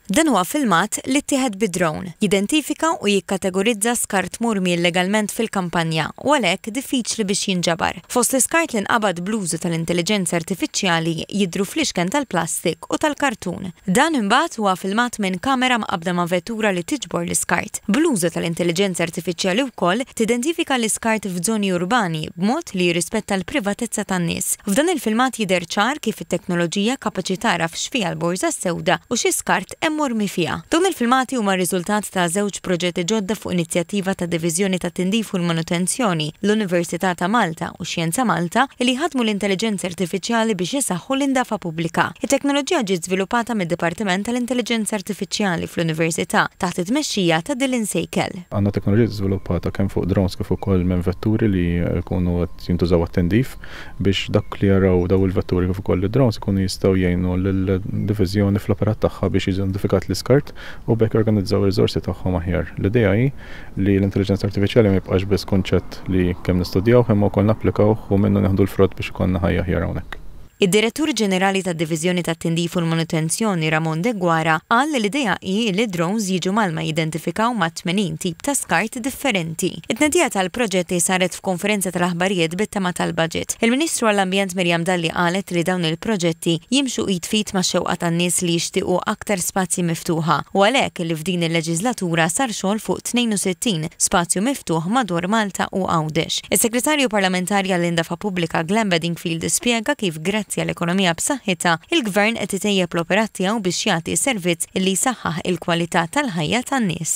Dan huwa filmat li ttieħed bi drone, jidentifika u jikkategorizza skart murmi illegalment fil-kampanja u għalhekk diffiċli biex jinġabar. Fost l-iskart li nqabad bl-użu tal-intelliġenza artifiċjali jidhru fliexken tal-plastik u tal-kartun. Dan imbagħad huwa filmat minn kamera mqabbda ma' vettura li tiġbor l-iskart. Bl-użu tal-intelliġenza artifiċjali wkoll tidentifika l-iskart f'żoni urbani b'mod li jirrispetta l-privatezza tan-nies. F'dan il-filmat jidher ċar kif, teknoloġija kapaċi tagħraf x'fiha l-borża sewda u xi skart hemm mormi fiha. Dawn il-filmati huma r-riżultat ta' żewġ proġetti ġodda fuq inizjattiva tad-Diviżjoni tat-Tindif u l-Manutenzjoni, l-Università ta' Malta u Xjenza Malta, li jħaddmu l-intelliġenza artifiċjali biex isaħħu l-indafa pubblika. It-teknoloġija ġiet żviluppata mid-Dipartiment tal-Intelliġenza Artifiċjali fl-Università taħt it-tmexxija ta' Dylan Seikel. Għandna teknoloġija żviluppata kemm fuq drones kif ukoll minn vetturi li jkunu qed jintużaw għat-tindif. biex dak li jaraw dawn il-vetturi kif ukoll id-drones ikunu jistgħu jgħinu lid-Diviżjoni fl-operat tagħha biex jiġi identifikat l-iskart u b'hekk jorganizzaw ir-riżorsi tagħhom aħjar. L-idea hi li l-intelliġenza artifiċjali ma jibqax biss kunċett li kemm nistudjawh imma wkoll napplikawh u minnu nieħdu l-frott biex ikollna ħajja aħjar hawnhekk. Id-Direttur Ġenerali tad-Diviżjoni tat-Tindif u l-Manutenzjoni Ramon Deguara qal li l-idea hi li d-drones jiġu mgħallma jidentifikaw ma' 80 tip ta' skart differenti. It-tnedija tal-proġetti saret f'konferenza tal-aħbarijiet bit-tema tal-Baġit. Il-Ministru għall-Ambjent Miriam Dalli qalet li dawn il-proġetti jimxu id f'id max-xewqa tan-nies li jixtiequ aktar spazji miftuħa u għalhekk li f'din il-leġislatura sar xogħol fuq 62 spazju miftuħ madwar Malta u Għawdex. Is-Segretarju Parlamentari għall-Indafa Pubblika Glenn Bedingfield spjega kif grazzi għal ekonomija b'saħħitha, il-Gvern qed itejjeb l-operat tiegħu biex jagħti servizz li jsaħħaħ il-kwalità tal-ħajja tan-nies.